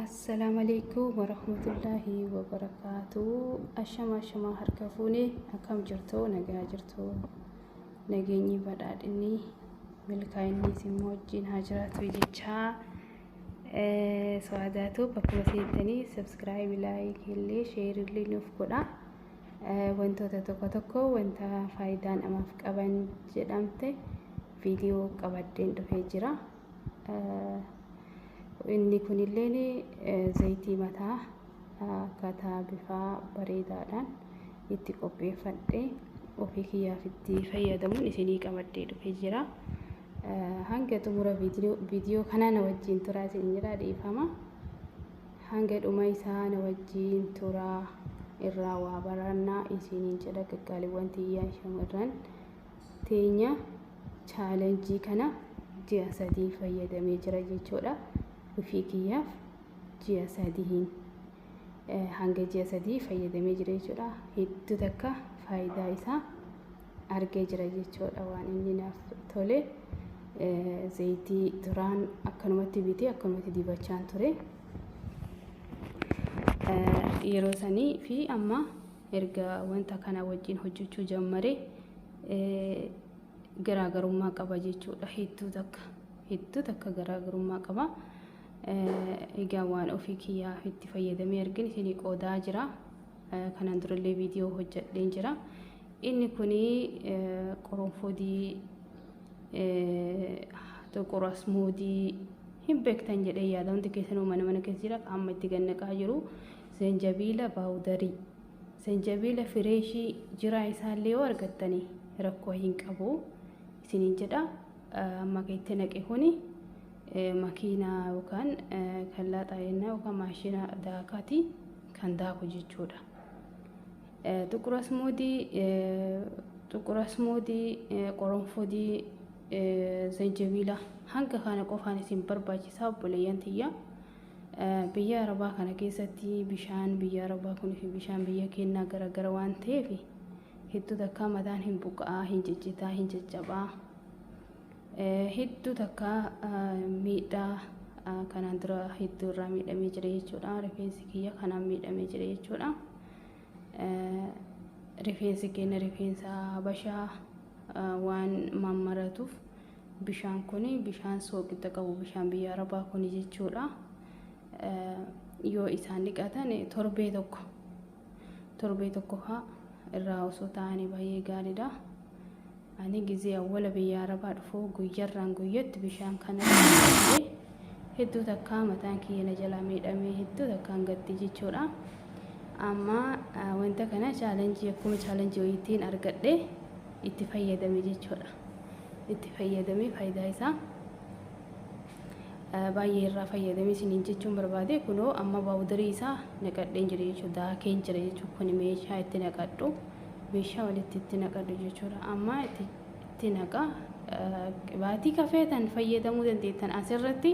Assalaamu alaikum warahmatullaahi wabarakaatu. Ashama ashama harka fuune akkam jirtu nagaa jirtu nageenyi badhaadhinni milkaa'inni isin wajjin haa jiraatu jechaa so'aadaatu bakkuma seentanii sabskiraayib laayikii illee sheerii illee nuuf godha. Wantoota tokko tokko wanta faayidaa namaaf qaban jedhamte viidiyoo qabaddeen dhufee jira. Inni kunilleen zayitii mataa akkaataa bifaa bareedaadhaan itti qopheeffadhe ofii kiyyaaf itti fayyadamuun isinii qabaddee dhufee jira. Hanga xumura viidiyoo kanaa na wajjin turaa isin jira dhiifama. Hanga dhuma isaa na wajjin turaa irraa waa barannaa isiniin jedha qaqqaaliiwwan tiyyaa shamarran teenya. chaalenjii kana ji'a sadii fayyadamee jira jechuudha. Ofii kiyyaaf ji'a sadiin hanga ji'a sadii fayyadamee jira jechuudha. Hedduu takka faayidaa isaa argee jira jechuudha waan inni naaf tole. Zayitii duraan akkanumatti bitee akkanumatti dibachaan ture. Yeroo sanii fi amma Erga wanta kanaa wajjin hojjechuu jammare garaagarummaa qaba jechuudha. Hedduu takka hedduu takka garaagarummaa qaba. Egaa waan ofii kiyyaaf itti fayyadamee argin isinii qoodaa jira. Kanaan durallee viidiyoo hojjedheen jira. Inni kun qoronfoodii xuqur asmoodii hin beektan jedhee yaada hundi keessanuu mana mana keessa jira amma itti gannaqaa jiru Zanjabiila baawudarii, zanjabiila fireeshii jiraa isaallee yoo argattani rakkoo hin qabu isiniin jedha. Amma kan itti naqe kuni makiinaa yookaan kan laaxaa jennaa yookaan maashina daakaati kan daaku jechuudha. Xuqur asmuudii xuqur asmuudii qoronfodii zanjabiila hanga kana qofaan isin barbaachisaa obboleeyyan tiyya. Biyya Arabaa kana keessatti bishaan biyya Arabaa kun fi bishaan biyya keenyaa garaagara waan ta'eef hedduu takkaa mataan hin buqa'aa, hin ciccitaa, hin caccabaa. Hedduu takkaa miidhaa kanaan dura hedduu irraa miidhamee jira jechuudha. Rifeensi kiyya kanaan miidhamee jira jechuudha. Rifeensi keenya rifeensa habashaa waan mammaratuuf Bishaan kun bishaan sooqidda qabu bishaan biyya arabaa kun jechuudha. Yoo isaan dhiqatan torbee tokko torbee tokko faa irraa osoo taa'anii baay'ee gaariidha. Ani gizee awwala biyya arabaa dhufu guyyarraan guyyatti bishaan kana dhiqee hedduu takkaa mataan kiyya na jalaa miidhamee hedduu takkaan gaddi jechuudha. Amma wanta kana chaalenjii akkuma chaalenjii wayiitiin argadhe itti fayyadame jechuudha. itti fayyadamee faayidaa isaa baay'ee irraa fayyadamee isiniin jechuun barbaade kunoo amma baawudarii isaa naqadheen jira jechuudha daakeen jira jechuudha kun meeshaa itti naqadhu meeshaa walitti itti naqadhu jechuudha amma itti naqa qibaatii kafeetan fayyadamuu dandeettan asirratti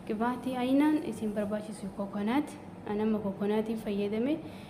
qibaatii ayinaan isin barbaachisu kokonaati anamma kokonaatiin fayyadame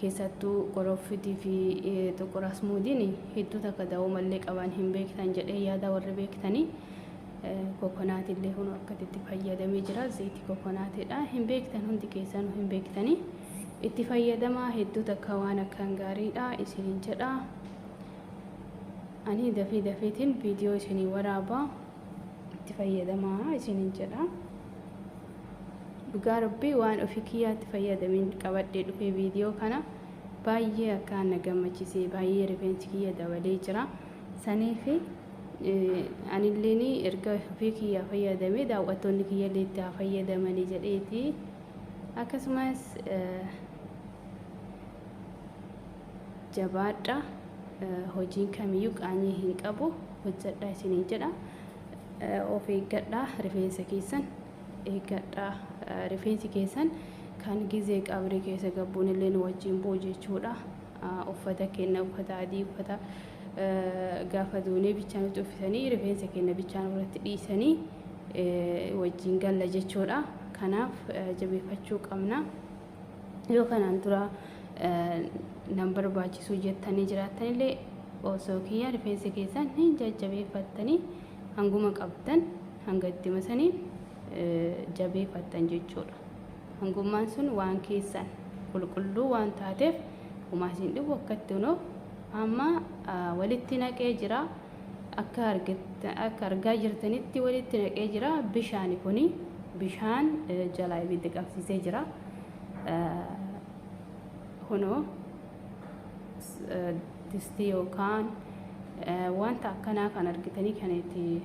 keessattuu qoroffitii fi xuqur asmuudiin hedduu takka da'oo mallee qaban hin beektan jedhee yaada warri beektanii kokonaatii illee kun akkatti itti fayyadamee jira zayitii kokonaatiidha hin beektan hundi keessanuu hin beektanii itti fayyadamaa hedduu takka waan akkaan gaariidha isiniin jedha ani dafee dafeetiin viidiyoo isinii waraabaa itti fayyadamaa isinin jedha dhugaa rabbii waan ofii kiyyaatti fayyadamin qabadhee dhufee viidiyoo kana baay'ee akka na gammachisee baay'ee rifeensi kiyya dabalee jira saniifi anilleen erga ofii kiyyaa fayyadamee daawwattoonni kiyyallee itti haa fayyadamanii jedheeti akkasumas jabaadha hojiin kamiyyuu qaanyii hin qabu hojjadha isiniin jedha of eeggadha rifeensa keessan eeggadha rifeensi keessan kan gizee qabrii keessa gabbuun illee nu wajjin bu'u jechuudha uffata kenna uffata adii uffata gaafa duunee bichaa nutti uffisanii rifeensa kenna bichaa nurratti dhiisanii wajjin galla jechuudha kanaaf jabeeffachuu qabna. yoo kanaan dura nan barbaachisuu jettanii jiraattanillee osoo kiyyaa rifeensa keessan hin jajjabeeffattanii hanguma qabdan hanga itti masanii jabeeffattan jechuudha. Hangummaan sun waan keessan qulqulluu waan taateef homaa isin dhibu akkatti unoo amma walitti naqee jira. Akka argaa jirtanitti walitti naqee jira. Bishaani kuni bishaan jalaa ibidda qabsiisee jira. Kunoo distii yookaan wanta akkanaa kan argitanii kan itti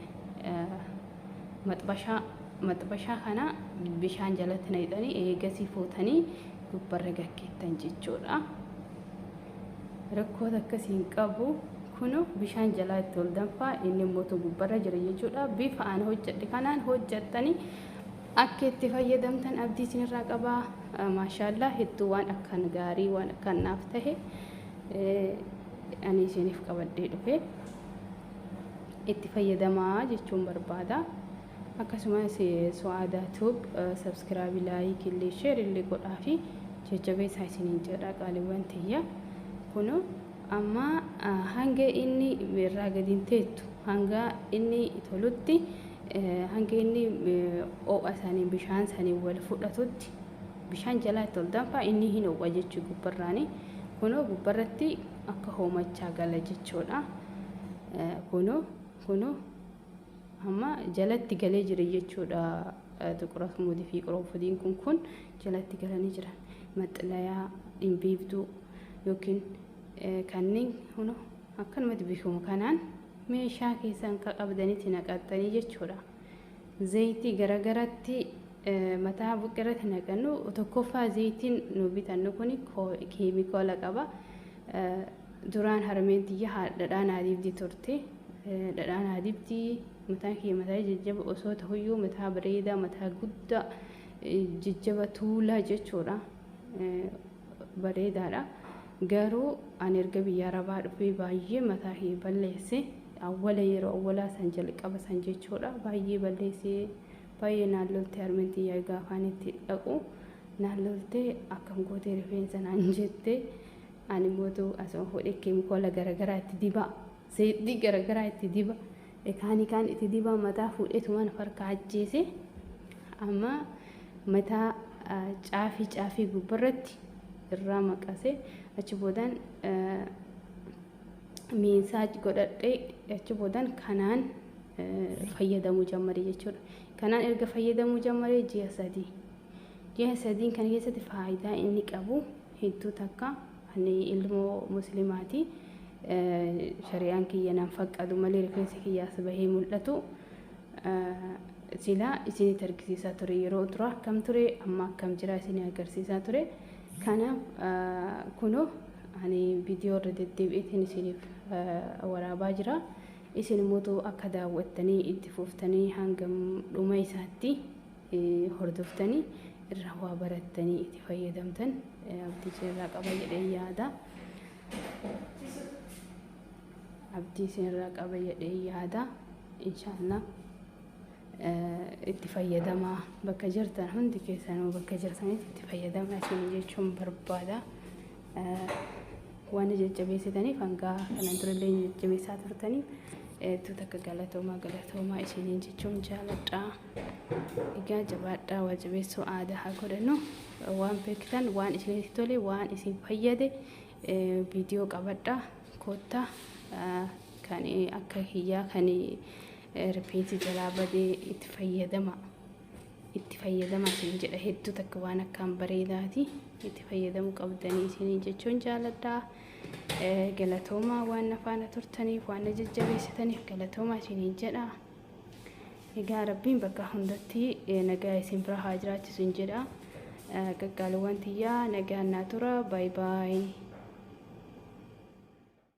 maxbashaa maxbashaa kana bishaan jalatti naqxanii eegasii fuutanii gubbarra gaggeettan jechuudha. Rakkoo takka siin qabu kuno bishaan jalaa itti ol danfaa inni immoo gubbarra jira jechuudha bifa aan hojjedhe kanaan hojjettanii akka itti fayyadamtan abdii isinirraa qabaa maashaallaa hedduu waan akkaan gaarii waan akkaan naaf tahe ani isiniif qabadhee dhufe itti fayyadamaa jechuun barbaada. Akkasumas Su'aadaa Tube subscribe, like illee share illee godhaafi jajjabeessaa isiniin jedha qaaliiwwan tiyya. Kunoo amma hanga inni irraa gadi hin teettu hanga inni tolutti hanga inni oo'a isaaniin bishaan isaaniin wal fudhatutti bishaan jalaa itti ol danfaa inni hin oo'a jechuu gubbarraani. Kunoo gubbarratti akka hoomachaa gala jechuudha. Kunoo kunoo Amma jalatti galee jira jechuudha. Xuqurafmuudii fi qurunfudiin kun kun jalatti galanii jiran. Maxxalayaa, dhimbiibduu yookiin kanneen huna akkanumatti beekamu kanaan meeshaa keessan qabdanitti naqattanii jechuudha. Zayitii garagaratti mataa buqqirratti naqannu tokkoffaa zayitiin nu bitannu kun keemikaala qaba. Duraan harmeen tiyya ha- dhadhaa naa dibdi turte. Eh, Dhadhaa naa dibdi, mataan kiyya mataa jajjaba osoo tahuyyuu mataa bareedaa, mataa guddaa, eh, jajjaba tuulaa jechuudha. Eh, Bareedaadha. Garuu ani erga biyya Arabaa dhufee baay'ee mataa kiyya balleesse. Awwala yeroo awwalaa san jalqaba san jechuudha. Baay'ee balleessee baay'ee naan lolte harmeen tiyya egaa afaan itti dhaqu. Naan loltee akkam gootee rifeensa naan jette. Ani mootu asuma fuudhee keemikoola garagaraa itti dibaa seexdii garagaraa itti diba ekaanii kaan itti dibaa mataa fuudheetu mana farka ajjeese amma mataa caafii caafii gubbarratti irraa maqase achi boodaan miinsaaj godhadhee achi boodaan kanaan fayyadamuu jammare jechuudha. Kanaan erga fayyadamuu jammare ji'a sadii. Ji'a sadiin kana keessatti faayidaa inni qabu hedduu takka ani ilmoo muslimaati shari'aan kiyya nan faqqadu malee rifeensi kiyyaas bahee mul'atu silaa isinitti argisiisaa ture yeroo duraa akkam ture amma akkam jira isinii agarsiisaa ture kanaaf kunoo ani viidiyoo irra deddeebi'eetiin isiniif waraabaa jira isin immoo akka daawwattanii itti fuftanii hangam dhuma isaatti hordoftanii irraa waa barattanii itti fayyadamtan abdii irraa qaba jedhee yaada. Abdii irraa qaba jedhee yaada. Inshaallah itti fayyadamaa bakka jirtan hundi keessanuu bakka jirtanitti itti fayyadamaa isin jechuun barbaada. Waan jajjabeessitaniif hangaa kanan turellee jajjabeessaa turtaniif hedduu takka galatoomaa galatoomaa isiniin jechuun jaaladha. Egaa jabaadhaa waa jabeessuu aadaa haa godhannu. Waan beektan, waan isinitti tole, waan isin fayyade viidiyoo qabadhaa koottaa kan akka kiyyaa kan rifeensi jalaa badee itti fayyadama. Itti fayyadama isin jedha hedduu takka waan akkaan bareedaati. Itti fayyadamuu qabdanii isinii jechuun jaaladhaa. Galatoomaa waan na faana turtaniif waan na jajjabeessitaniif galatoomaa isiniin jedha. Egaa Rabbiin bakka hundatti nagaa isin bira haa jiraachisu hin jedha. Qaqqaaliwwan tiyyaa nagaan naa tura. Baay baay.